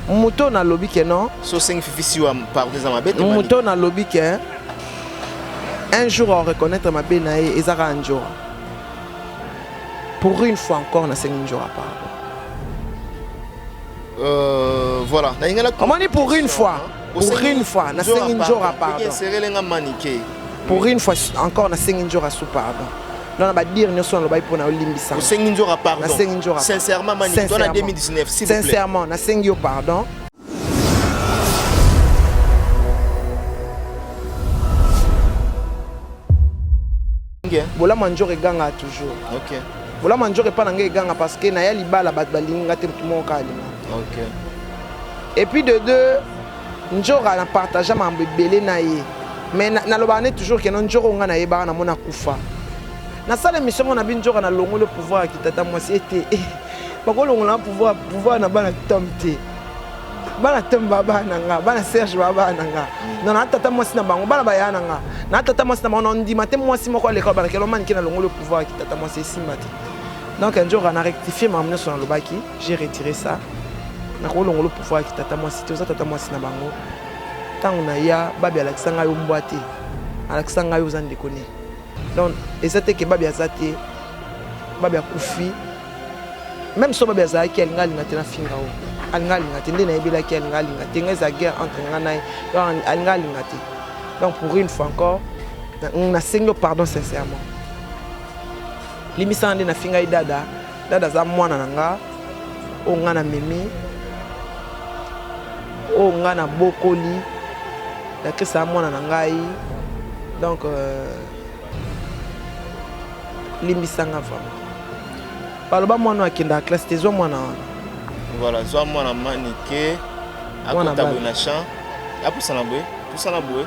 Moto na lobi ke non. So sengi fifi siwa pardon za mabe. Moto na lobi ke un jour au reconnaître ma be na ye ezaka njora. Pour une fois encore na sengi njora pardon. Euh voilà. Na ingala. Omoni pour une fois. Pour une fois, na sengi njora pardon. Serele nga manike. Pour une fois encore na sengi njora sous pardon. Non na ba dire nyoso na lobai pona olimbisa. Na sengi njora pardon. Na sengi njora. Sincèrement manike, toi na 2019 s'il vous plaît. Sincèrement, na sengi yo pardon. bien bolamu ya nzoro eganga toujours okay. bolamu ya nzoro epa na ngai eganga parce que naya libala bato balingi ngai te moto moko kaka linga okay. Et puis de deux, Njora na partage mambo ebele na ye. Mais nalobaka na, na toujours que non Njora nga na yebaka na mona kufa. Nasala émission ngo na bi Njora na longo le pouvoir ya kitata mwasi ete. Eh, bakolongola pouvoir pouvoir na bana tom te. bana tembe babaa na nga bana serge babaa na nga no na tata mwasi na bango bana baya na nga na tata mwasi na bango na ndima te mwasi moko aleka balakela omanike na longo le pouvoir ya kitata mwasi esimba te donc un jour ana rectifie makambo nyonso nalobaki J'ai retiré ça. nakolongola pouvoir ya kitata mwasi te oza tata mwasi na bango ntango na ya babi alakisa ngai yo mbwa te alakisa ngai yo oza ndeko ne donc eza te ke babi aza te babi akufi meme so babi azalaki alinga alinga te nafinga o alinga alinga te nde nayebelaki alinga alinga te ngai eza guerre entre ngai na ye donc alinga alinga te donc pour une fois encore nasengi yo pardon sincèrement limisana nde nafingai dada Dada aza mwana na nga oyo nga na memi oyo nga na bokoli Latrice aza mwana na ngai donc euh, limbisa nga vraiment baloba mwana oyo akendaka classe te zwa mwana wana voilà zwa mwana manike akota boye na champ apusana boye pusana boye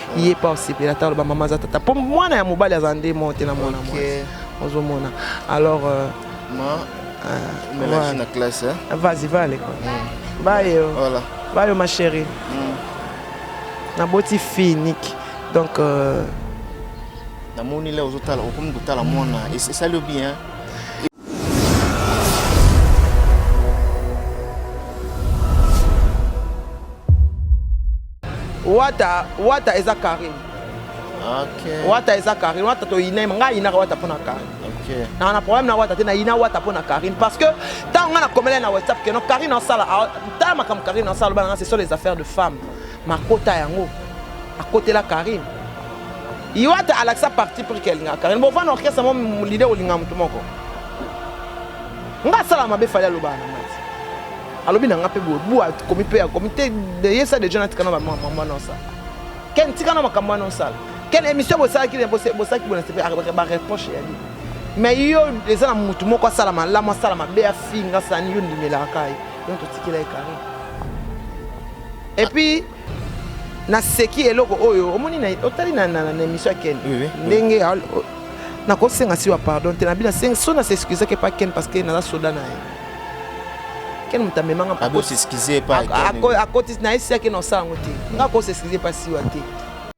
ye pa osepela ata aloba mama aza tata mpo mwana ya mobali aza nde moko te na mwana mwasi ozomona alors euh, ma euh, voilà. na classe hein? vas-y va à l'école mm. baye oh. voilà. baye oh, ma chérie mm. naboti fille niki donc euh, namoni le ozotala okomi kotala mwana esali yo bien wata wata eza carine okay. wata eza carine wata toyina ngai ayinaka wata mpo na carine okay. na na problème na wata te nayina wata mpo na carine parce que ntango ngai nakomela na whatsapp keno carine asala ntala makambo carine asala loba na ngai ce sont les affaires de femme Makota yango akotela Carine. Iwata alakisa parti pris ke alingaka Carine. Bovanda orchestre mo leader olinga moto moko. Nga asala mabe fali aloba na nga te. Alobi na nga mpe boye bu akomi mpe akomi te ye sa deja natika na bamambo wana osala. Ken tika na makambo wana osala. Ken émission bosalaki bosalaki bona sepe bareproche ya nini. Mais yo eza na motu moko asala malamu asala mabe afinga asala nini yo ndimelaka ye. Yo totikela ye Carine. Et puis naseki eloko oyo omoni na otali na na na émission ya Ken Oui, oui. ndenge nakosenga siwa pardon te nabi nasenga so na s'excuse ke pa Ken parce que naza soda na ye Ken moto amemanga mpa- Ako s'excuser pa Ako- Ken. ako- akotisi na ye siaki na osala yango te nga ko s'excuse pa siwa te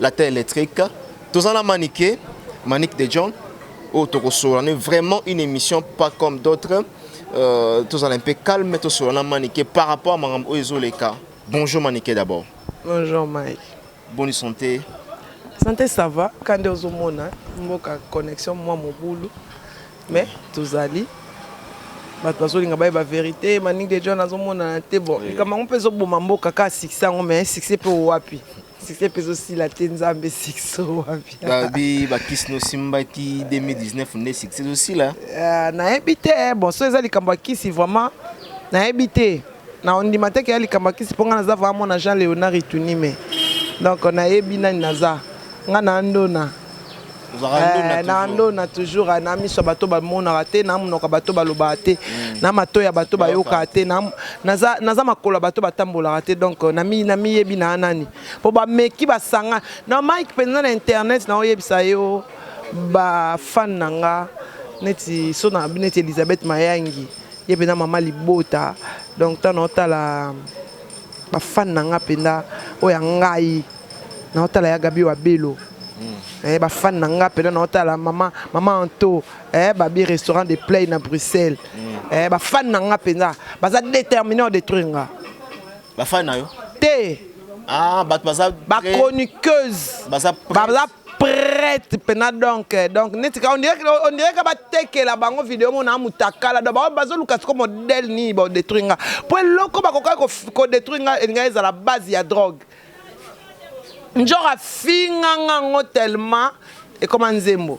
Latin électrique. Tozana Manike, Manique de John. Oh, Tokosola, on est vraiment une émission pas comme d'autres. Euh, tozala un peu calme, tosola na Manike par rapport à Maram Oezoleka. Bonjour Manike d'abord. Bonjour Mike. Bonne santé. Santé ça va. Quand on se mona, mboka connexion moi mon boulot. Mais tozali bato bazolinga bayeba verité maningi de john azomonana te bon likambo yango mpe ezoboma mboka kaka succès yango mais succès mpe wapi succès mpe ezosila te nzambe succès wapi babi bakisi nosimbaki 2019 nde succès ezosila ah, nayebi te eh, bon so eza likambo ya kisi vraiment nayebi te na ondima te keya likambo ya kisi mpo ngai naza vraiment mwana jean léonard itunime donc nayebi nani naza ngai na andona Eh, na ndona toujours eh, na miso ya bato bamonaka te na monoko ya bato balobaka te mm. na mato ya bato bayokaka te naza makolo ya bato batambolaka te donc eh, namiyebi na nani mpo bameki basanga na mike mpenza na internet naoyebisa yo bafane na nga neti so na neti elizabeth mayangi ye mpenza mama libota donc ntango naotala ba fan na nga penda oyo ya ngai na otala ya Gabi wa Belo mm. eh, ba fan na nga penda na otala mama mama Anto eh, babi restaurant de play na Bruxelles mm. eh, ba fan na nga penda baza déterminé à détruire nga ba fan na yo te ah, bato baza bachroniqueuse baza prête pena donc donc neti ka on dirait on dirait ka batekela bango video mona amutakala donc bango bazoluka siko modèle nini ba détruire nga po eloko bakoka ko détruire nga elinga ezala base ya drogue njora finga nga ngo tellement ekoma nzembo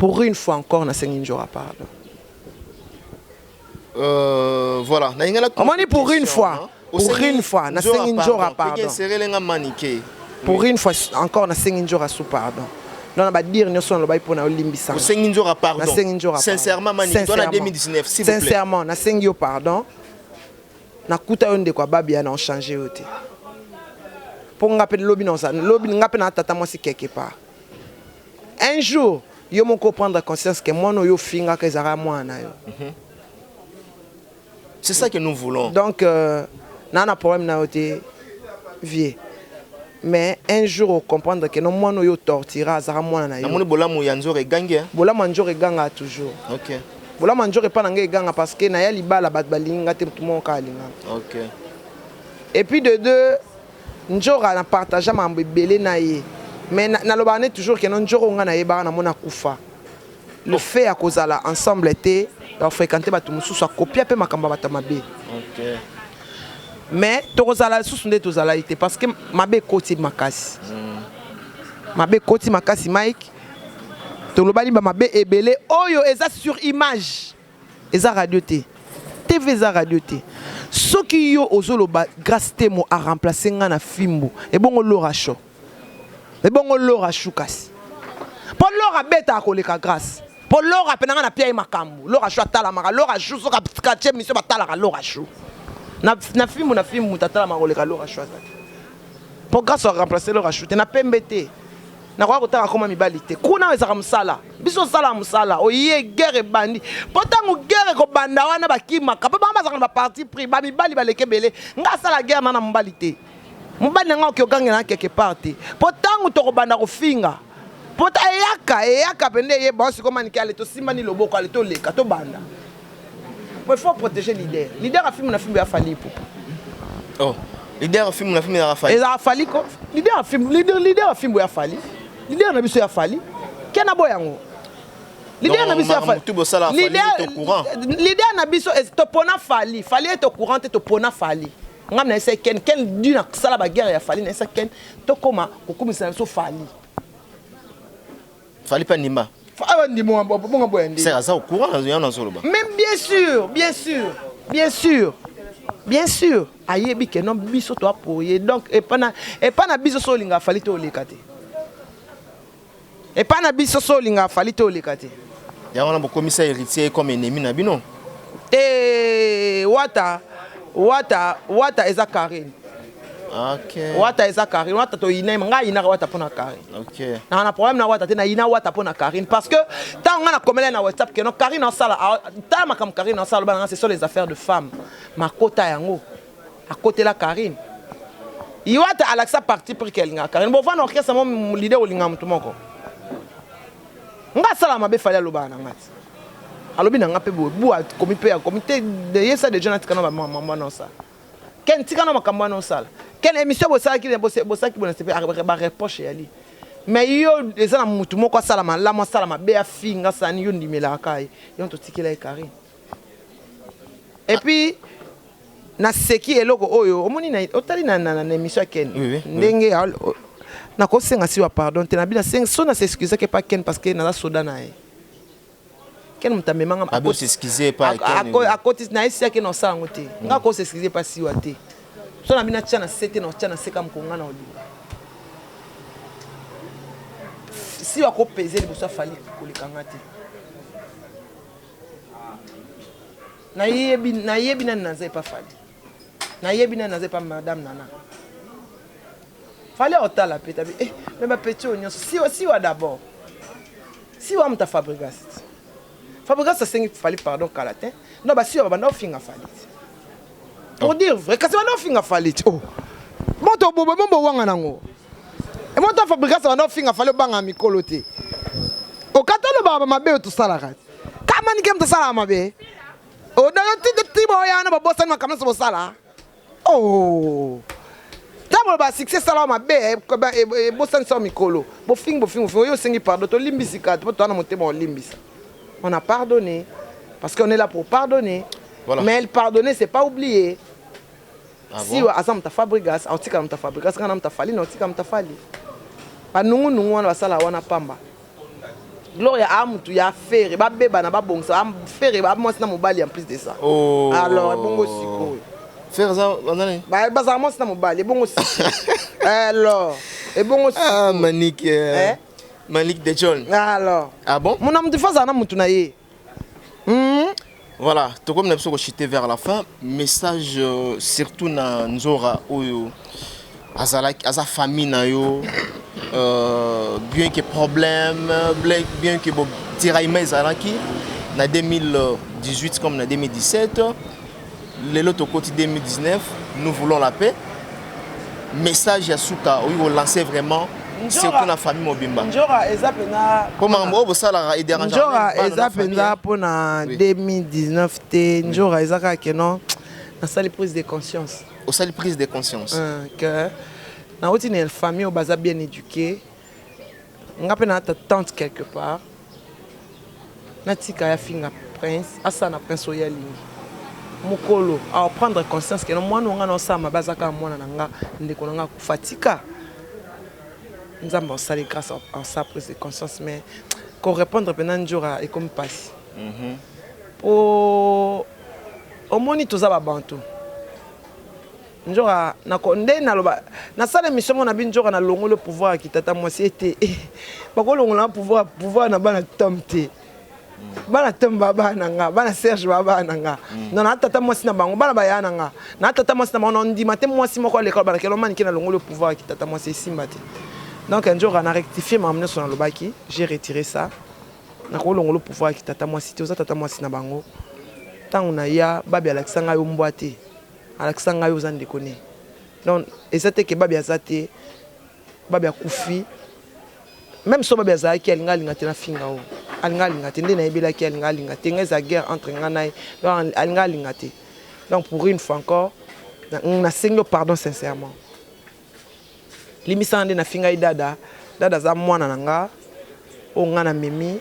Pour une fois encore na sengi njora pardon. Euh, voilà, na ingala On dit pour une fois. Hein? Pour une fois, na sengi njora pardon. Peke serele nga manike. Pour une fois encore na sengi njora sous pardon. Non, na ba dire nyoso na lobai pona olimbisa. Osengi njora pardon. Na sengi njora. Sincèrement manike, toi na 2019 s'il vous plaît. Sincèrement, na sengi yo pardon. Na kuta yo ndeko ababi na on changer yo te. Pour nga pe lobi na lobi nga pe na tata moi si quelque part. Un jour yo moko o prendre conscience que mwana oyo ofingaka ezalaka mwana na yo. Mhm. C'est ça que nous voulons. Donc euh, n'a na problème na yo te vieux. mais un jour ocomprendre ke no mwana oyo otortira azalaka mwana na yo namoni bolamu ya nzoro egangi eh? bolamu ya nzoro egangaka toujours okay. bolamu ya nzoro epai na ngai eganga parce que naya libala bato balingi nga te motu moko kaka alingaka okay. et puis de deux Ndjora na partagea makambo ebele na ye mais nalobaka nde toujours que non Ndjora oyo nga nayebaka na mona akufa le fait ya kozala ensemble te ya ko frequenter batu mosusu a copia pe makambo ya batu ya mabe mais tokozala lisusu nde tozalaki te parce que mabe ekoti makasi mabe ekoti makasi Mike tolobani ba mabe ebele oyo eza sur image Eza radio te. TV eza radio te. Soki yo ozo loba Grace Temo a remplacer nga na fimbu, ebongo Laura Show? Ebongo Laura Show kasi? Po Laura abetaka koleka Grace. Po Laura pe na nga na pia ye makambu. Laura Show atalamaka. Laura Show soki a tie emission ba talaka Laura Show. Na, na fimbu na fimbu mutu atalamaka koleka Laura Show aza te. Po Grace a remplacer Laura Show te. Na pembe te. nakoya kotanga koma mibali te kuna ezaka mosala biso osala mosala oye guerre ebandi mpo ntango guerre ekobanda wana bakimaka mpo bango bazaka na baparti pris bamibali baleki ebele ngai asala guerre na na mobali te mobali na ngai oki ogangela na quelque part te mpo ntango tokobanda kofinga mpo eyaka eyaka mpenza eyeba osikomanike ale tosimbani loboko ale toleka tobanda Bon, il faut protéger leader. Leader a filmé na film ya Fally Ipupa. Oh, leader a filmé na film ya Fally. Eza Fally ko. Leader a film, leader leader a film ya Fally. Leader na biso ya Fally. Kena boya ngo. Leader na biso ya Fally. Tout bosala Fally est au courant. Leader na biso est au pona Fally. Fally est au courant te to pona Fally. Ngam na esa Ken Ken du na sala ba guerre ya Fally na esa Ken to koma kokumisa na biso Fally. Fallait pas Nima. Ah, bah, Nima, on va pas bon, bon, C'est ça, au courant, là, on en solo. Mais bien sûr, bien sûr, bien sûr. Bien sûr, ayebi que non biso to apoye. Donc et pas na et pas na biso so linga fallait to lekate. Et pas na biso so linga fallait to lekate. Ya on a beaucoup mis ça héritier comme ennemi na bino. Eh, wata, wata, wata eza Karine. Okay. Wata eza Karine, Wata to yina nga yina Wata pona Karine. Okay. Na na problème na Wata te na yina Wata pona Karine parce que tant nga na komela na WhatsApp que non Karine en sala ah, ta makam Karine en sala bana c'est sur les affaires de femmes. Makota yango. À côté la Karine. Iwata alakisa parti pris qu'elle nga Karine. Bon vana orchestre mon leader olinga mutu moko. Nga sala mabe fali aloba na ngati. Alobi na nga pe bo bo akomi pe akomi te de yesa déjà na tikana ba maman non ça. Ken tika na makambo wana osala. Ken emission bosalaki na bosalaki bona sepe ba reproche ya li. Mais yo eza na mutu moko asala malamu asala mabe afinga sani yo ndimelaka ka ye. Yango totikela ye Carine. Et puis naseki eloko oyo omoni na otali na na na emission ya Ken oui, oui, ndenge oui. nakosenga siwa pardon te na bina sengi so na s'excuse ke pa Ken parce que naza soda na ye. ken moto amema nga Abi os'excuse epa ya Ken ako- akotisi na ye si ya ken osala yango te nga akosa excuse epa siwa te so na bino atya na se te na otya na se kaka mokolo nga na olinga siwa ko peze liboso ya fali koleka nga te nayebi nayebi nani naza epa fali nayebi nani naza epa madame nana Fallait otala pe tabi eh mais ba petit oyo nyonso siwa siwa d'abord. Siwa muta Fabregas. Fabregas asengi Fally pardon kala te. Non ba siwa babanda ofinga Fally. Pour dire vrai kasi banda ofinga Fally. Oh. Moto bobo bombo wanga nango. E moto Fabregas banda ofinga Fally banga mikolo te. Okatalo baba mabe otusalaka. Kama ni kem tasala mabe. Odayo titi tibo yana babosani makambo nyonso bosala. Oh! Tango ba succès sala mabe ebosani sa mikolo. Bofingi bofingi bofingi oyo osengi pardon to limbisi kati po toana motema olimbisa. On a pardonné parce qu'on est là pour pardonner. Voilà. Mais pardonner c'est pas oublier. Ah bon? Siwa aza muta Fabregas, aotika muta Fabregas, kana muta Fali, naotika muta Fali. Ba nungu nungu wana basala wana pamba. Gloria a mutu ya Ferre ba bebana ba bongisa a Ferre ba mwasi na mobali en plus de ça. Oh. Alors ebongo sikoyo. Ferre za banani? Ba bazala mwasi na mobali ebongo sikoyo. Alors ebongo sikoyo. Ah Manik. Eh. Manik de John. Alors. Ah bon? Mona mutu faza na mutu na ye. Hum, voilà, tokomi na biso ko chiter vers la fin. Message euh, surtout na Nzora oyo azalaki aza famille na yo euh, bien que problème, bla- bien que bo tiraillement ezalaki na 2018 comme na 2017 Lelo tokoti 2019, nous voulons la paix. Message ya suka oyo ko lancer vraiment surtout na famille mobimba. Njora eza pena po makambo oyo bosalaka et dérange. Njora eza pena po na 2019 te. Njora eza kaka que non nasali prise de conscience. Osali prise de conscience. Euh, que na oti na famille oyo baza bien éduquée. Nga pe na ta tante quelque part. Natika ye afinga prince asala na prince oyo ye alingi mukolo ako prendre conscience que non muana oyo nga nazo sala mabe aza kaka muana na nga ndeko na nga akufa atika nzambe asali grace asala prise de conscience mais ko repondre pena ndjora ekomi pasi po omoni toza ba bantu Ndjora na ko nde na loba na sala emission ngo na bi Ndjora na longolo pouvoir ya kitata mwasi ete eh, bako longola pouvoir pouvoir na bana tom te bana tom ba bana nga bana Serge ba bana nga mm. non na tata mwasi na bango bana baya na nga na tata mwasi na bango ndima te mwasi moko aleka bana kelo mani kena longolo pouvoir ya kitata mwasi esimba te donc Ndjora na rectifier ma mneso na lobaki j'ai retiré ça na ko longolo pouvoir ya kitata mwasi te oza tata mwasi na bango tango na ya babi alakisa ngai yo mbwa te Alakisa ngai oza ndeko ne. Donc eza te que baby aza te, baby akufi. Meme soki baby azalaki alinga alinga te nafinga oo. Alinga alinga te nde nayebelaki ye alinga alinga te nga ezala guerre entre nga na ye donc alinga alinga te donc pour une fois encore nasengi yo pardon sincèrement. Limbisa nga nde na finga ye dada dada aza mwana na nga oyo nga na memi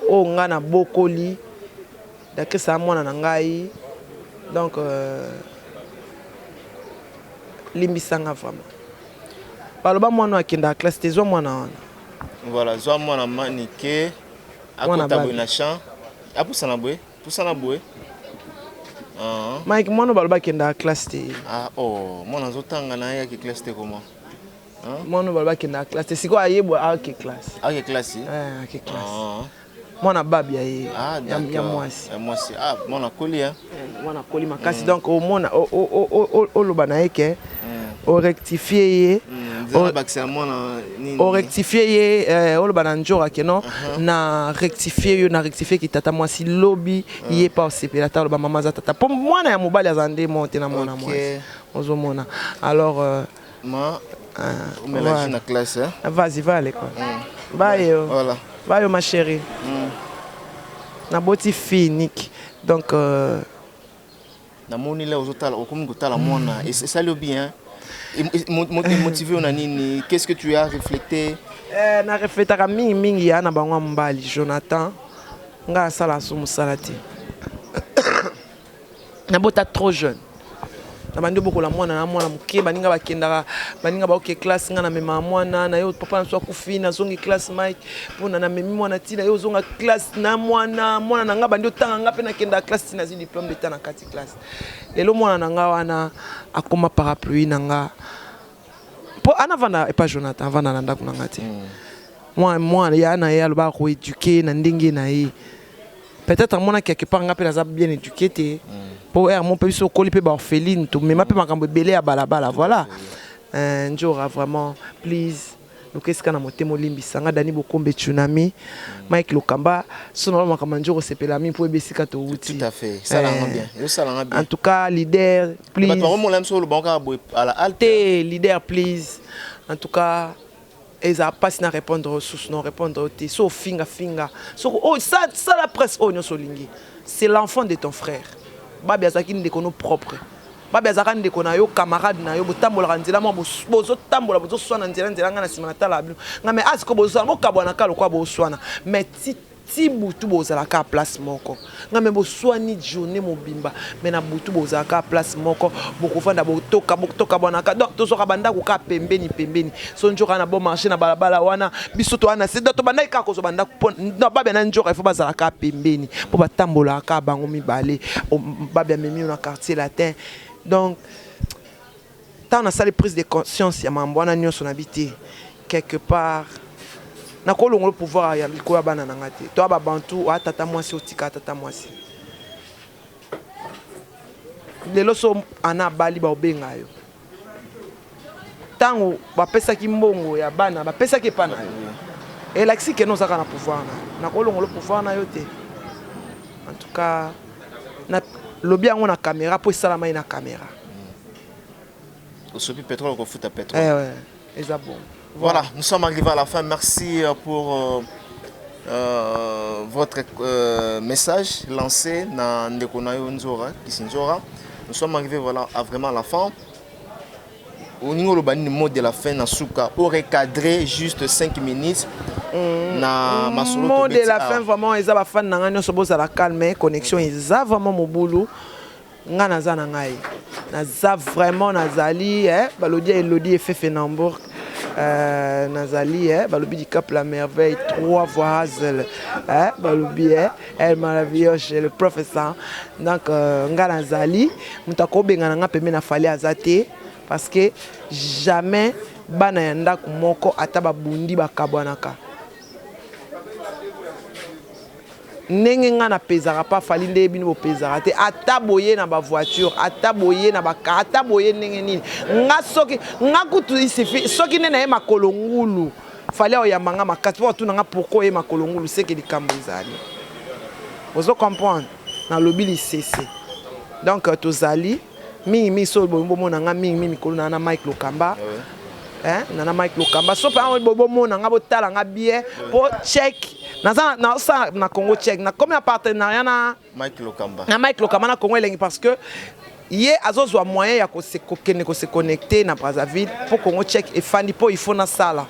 oyo nga na bokoli Dacris aza mwana na ngai donc euh, limbisa nga vraiment baloba mwana oyo akendaka classe te zwa mwana wana voilà zwa mwana manike akota boye na champ apusana boye Pusana boye. Ah. Mike mwana baloba kenda classe te. Ah oh, mwana azotanga na yaki classe te comment? Hein? Mwana baloba kenda classe te. Siko ayebwa ake classe. Ake classe? Eh, ake classe. Ah. mwana babi ya ye ah, ya mwasi ya mwasi ah mwana koli hein eh, mwana koli makasi mm. donc omona oloba na ye ke oh, eh. o rectifier ye hmm, o rectifier ye eh, oloba na njora ke non uh-huh. na rectifier yo na rectifier ki tata mwasi lobi ah. ye pa osepela ata oloba mama aza tata mpo mwana ya mobali aza nde mo te na mwana mwasi ozomona alors euh, ma euh, omelaki na classe vas-y va à l'école hmm. bayo voilà bayo ma chérie mm. naboti fille niki donc euh, Na moni là ozo tala okomi ko tala mwana et ça le bien motivé on a nini qu'est-ce que tu as reflété euh, na reflétaka mingi mingi ya na bango mbali Jonathan nga asala so musala te na bota trop jeune na bandi obokola mwana na mwana moke baninga bakendaka baninga baoke classe nga na mema mwana na yo papa na biso akufi nazongi classe mike pona na memi mwana ti na ye ozonga classe na mwana mwana na nga bandi otanga nga mpe nakenda classe ti nazwi diplome d'etat na kati classe lelo mwana na nga wana akoma parapluie na nga mpo ana avanda epa jonathan avanda na ndako na nga te mm. mwana mwana ya na ye alobaka koeduke na ndenge na ye peut-être amonaki quelque part nga mpe naza bien éduqué te mpo mm. ermo mpe biso okoli mpe baorpheline tomema mpe makambo ebele ya balabala voilà euh, njora vraiment please Luka esika na motema olimbisa nga Danny Bokombe Tsunami Mike Lokamba so na makambo ya njoko sepela mi mpo oyeba esika towuti Tout à fait. Sala yango bien. Yo sala nga bien. En tout cas leader Bato please bakomona biso oloba kaka boye à la halte. te leader please en tout cas ezala mpasi na répondre yo susu na répondre yo te so ofinga finga soki oyo sa- sala presse oyo nyonso olingi c'est l'enfant de ton frère babi azalaki ndeko no propre Babe azalaka ndeko na yo camarade na yo botambolaka nzela mwa bozo tambola bozo swana nzela nzela nga na sima na tala bino nga mais asko bozo swana bo kabwana ka lokwa bo swana mais ti ti butu bozala ka place moko nga mais bo swani journee mobimba mais na butu bozala ka place moko boko fanda bo toka bo toka bwana ka donc tozo ka banda ko ka pembeni pembeni so njoka na bon marché na balabala wana biso toa na sida tobandaki kaka kozwa bandako mpo na babia na njoka ifo bazala kaka pembeni mpo batambolaka kaka bango mibale babia memi yo na quartier latin donc ntango nasali prise de conscience ya mambo wana nyonso na bi te quelque part nakolongola pouvoir ya likolo ya bana na ngai te toa babantu oa tata mwasi otika tata mwasi lelo so ana abali baobenga yo Tango ba pesaki mbongo ya bana ba pesaki epa na yo elakisi que oza kaka na pouvoir na yo nako longola pouvoir na yo te en tout cas na lobi yango na camera po esalamaki na camera. Osopi petrole okofuta petrole. Eh ouais. eza bon voilà nous sommes arrivés à la fin merci euh, pour euh, euh, votre euh, message lancé na ndeko na yo nzora kisinzora nous sommes arrivés voilà à vraiment la fin olingi oloba nini mot de la fin na suka orecadre juste 5 minutes mm. na mm, masolo mot de la fin vraiment eza bafani na ngai nyonso bozala calme connexion eza vraiment mobulu Nga naza na ngai naza vraiment nazali eh, balobi ya elodi efefe na hambourg Euh, nazali eh, balobi dicap la merveille trois voix hazel eh, balobi eh, el maravillage le professeur donc euh, nga nazali moto akobengana nga pembe na fali aza te parce que jamais bana ya ndako moko ata babundi bakabwanaka Ndenge nga na pezaka pa Fally nde bino bo pezaka te ata boye na ba voiture ata boye na ba car ata boye ndenge nini nga soki nga kutu il suffit soki nde naye makolo ngulu Fally ako yamba nga makasi po atuna nga pourquoi oye makolo ngulu seke likambu ezali ozo comprendre nalobi lisese donc tozali mingi mingi so bolingi bomona nga mingi mingi mikolo na na Mike Lokamba hein na na Mike Lokamba so pa bolingi bomona nga botala nga bien po check naza na sa na Congo check na comme na partenariat na Mike Lokamba na Mike Lokamba na Congo elengi parce que ye azozwa moyen ya kokende kose connecter na Brazzaville po Congo check efandi po il faut na sala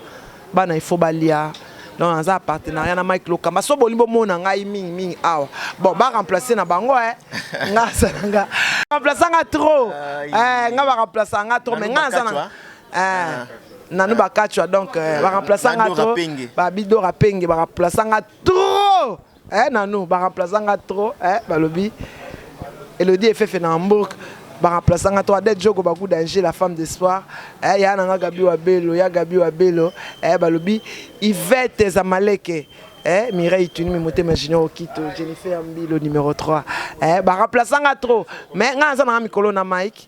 Bana il faut balia donc naza na partenariat na Mike Lokamba so bolingi bomona ngai mingi mingi awa bon ba remplacer na bango eh nga asala nga remplacer nga trop eh nga ba remplacer nga trop mais nga naza na eh nanu bakachwa donc ba remplacer nga trop ba bidora penge ba remplacer nga trop Eh nanou ba remplaça nga trop eh balobi Elodie Efefe na Hambourg ba remplaça nga trop Adèle Djogo Baku Danger la femme d'espoir eh ya na nga Gabi Wabelo ya Gabi Wabelo eh balobi Yvette Zamaleke eh Mireille Tunimi Motema Junior Okito Jennifer Mbilo numero 3 eh ba remplaça nga trop mais nga naza na nga mikolo na Mike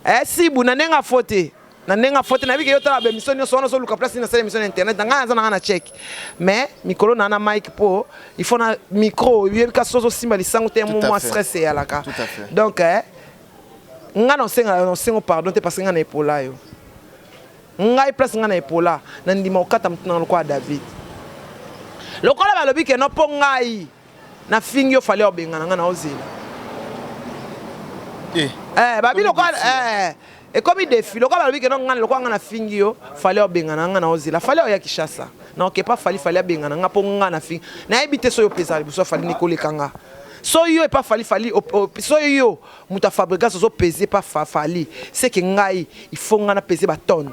eh Sibu na nenga faut te na ndenge afote nayebi ke yo tala baemission nyonso wana ozoluka place nini asala emission na internet na ngai aza na ngai na cheke mais mikolo na na mike mpo il faut na micro oyebi kasi so ozosimba lisango te mo mwa stress eyalaka donc eh, ngai na osenga na osengo pardon te parce que ngai na epola yo ngai place ngai na epola na ndima okata motuna lokola david lokola balobi ke no mpo ngai Na fingi yo fallait obengana nga na ozela. Eh. Eh, babi lokola eh ekomi defi lokola balobi keno ngai lokola ngai nafingi yo fale obengana ngai na ozela fale oya kishasa na oke pa fali fali abengana ngai mpo ngai nafingi nayebi te soki opezala liboso fali nikoleka ngai so yo epa fali fali so yo moto ya fabrigas ozopeze epa fali seke ngai ifo ngai napeze batone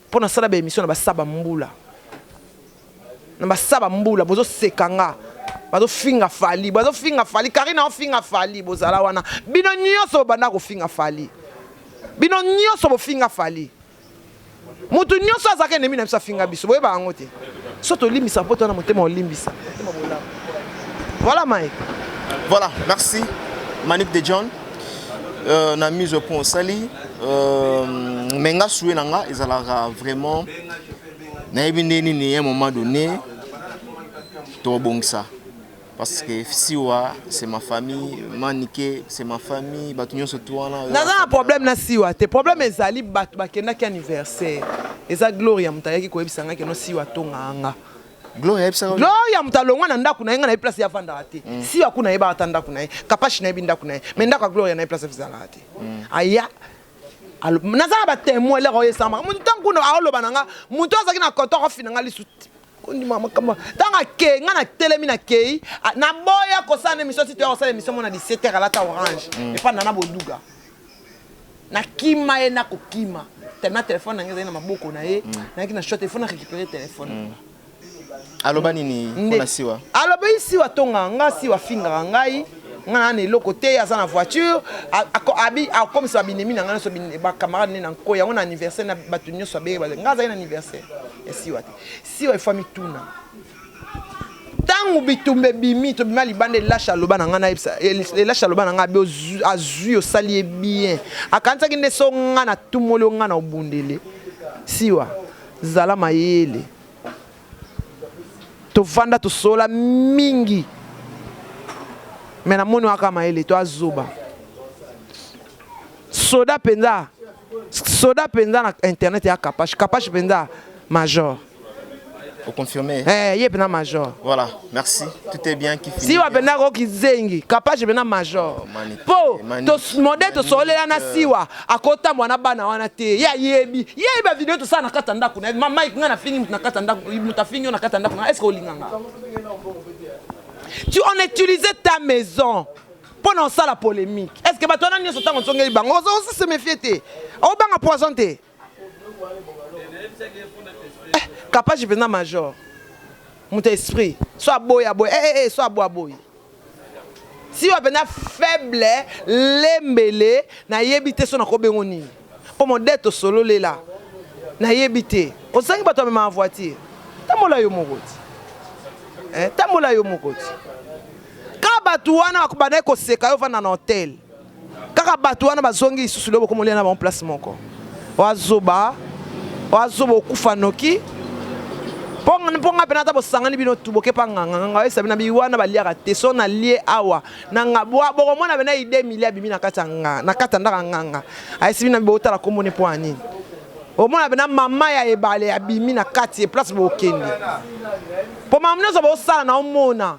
mpo nasala baémission na basaba mbula Na ba saba mbula bozo seka nga bazo finga fally bazo finga fally carine azo finga fally bozala wana bino nioso bobanda kofinga fally bino nioso bofinga fally mutu nioso azaka enemi na biso afinga biso boyeba yango te so tolimbisa poto wana motema olimbisa voilà mai voilà merci manique de john euh, na mise au point osali euh, me nga sue na nga ezalaka vraiment nayebi nde nini un moment donné tobongisa parce que siwa c'est ma famille manike c'est ma famille bato nyonso tu wana naza na problème na siwa te problème ezali bato bakendaki anniversaire eza gloria moto ayaki koyebisa ngai keno siwa tongaa nga gloria ayebisaka gloria moto alongwa na ndako na ye nga nayebi place yavandaka te mm. siwa kuna ayebaka ata ndako na ye kapashi nayebi ndako na ye mais ndako ya gloria nayebi place ezalaka te mm. aya naza na batemoin eloko oyo esama moto ntango kuna aoloba na nga moto oyo azalaki na koto akofina nga lisu ondima makambo ntango akei nga natelemi nakei naboya kosala na emission tito ya kosala emission mona 17 heure alata orange mm. epa nana boduga nakima ye nakokima tellement telefone na ngai ezali na maboko na ye mm. nayaki na shot efo na récupere telefone mm. aloba nini mpona siwa alobeli siwa tonga nga siwa afingaka ngai nga nana eloko te aza na voiture akomisa babinemi na ngai nyonso bacamarade ne na nko yango na anniversaire na bato nyonso abenge bato nga azali na anniversaire ya siwa te siwa efo amituna ntango bitumba ebimi tobima libanda elasha aloba na ngai elasha aloba na ngai azwi osali ye bien akanisaki nde so ngai natumoli yo ngai na obundele siwa Zala mayele. Tovanda tosolola mingi mais namoni oza kaka mayele te, oza zoba. Soda penza, soda penza na internet ya Kapash. Kapash penza major. O confirmer? Eh, ye penza major. Voilà. Merci, tout est bien qui finit. Siwa pena ko kizengi, kapaje pena major. Po to mode to solela na siwa, akota mwana bana wana te. Ya yebi, yebi ba video to sana kata ndaku na ma Mike nga na fingi mutu na kata ndaku, mutu afingi na kata ndaku na est-ce que olinga nga? Tu on utilisait ta maison. mpo na osala polemique est ce que bato wana nyonso ntango ozongeli bango ozosi se mefie te obanga poison te Kapashi penza major moto ya esprit so aboyi aboyi eh, eh, eh, so aboyi aboyi siwa penza faible lembele nayebi te so nakobengo nini mpo modete osololela nayebi te ozangi bato amemaka voiture tambola yo moko ti eh, tambola yo moko ti ka bato wana bakobandaki koseka yo vanda na hotel kaka bato wana bazongi lisusu leo bokomolia na bango place moko wazoba wazoba okufa noki mpo nga mpena ata bosangani bino tu bokepa nganga nganga oyesa bina bi wana baliaka te so nalie awa na nga bokomona bena ide mili abimi na kati ya ndaka nganga ayesi bina bi botala nkombo ne mpo ya nini omona bena mama ya ebale abimi na kati ye place bokende mpo mama nyonso bosala na omona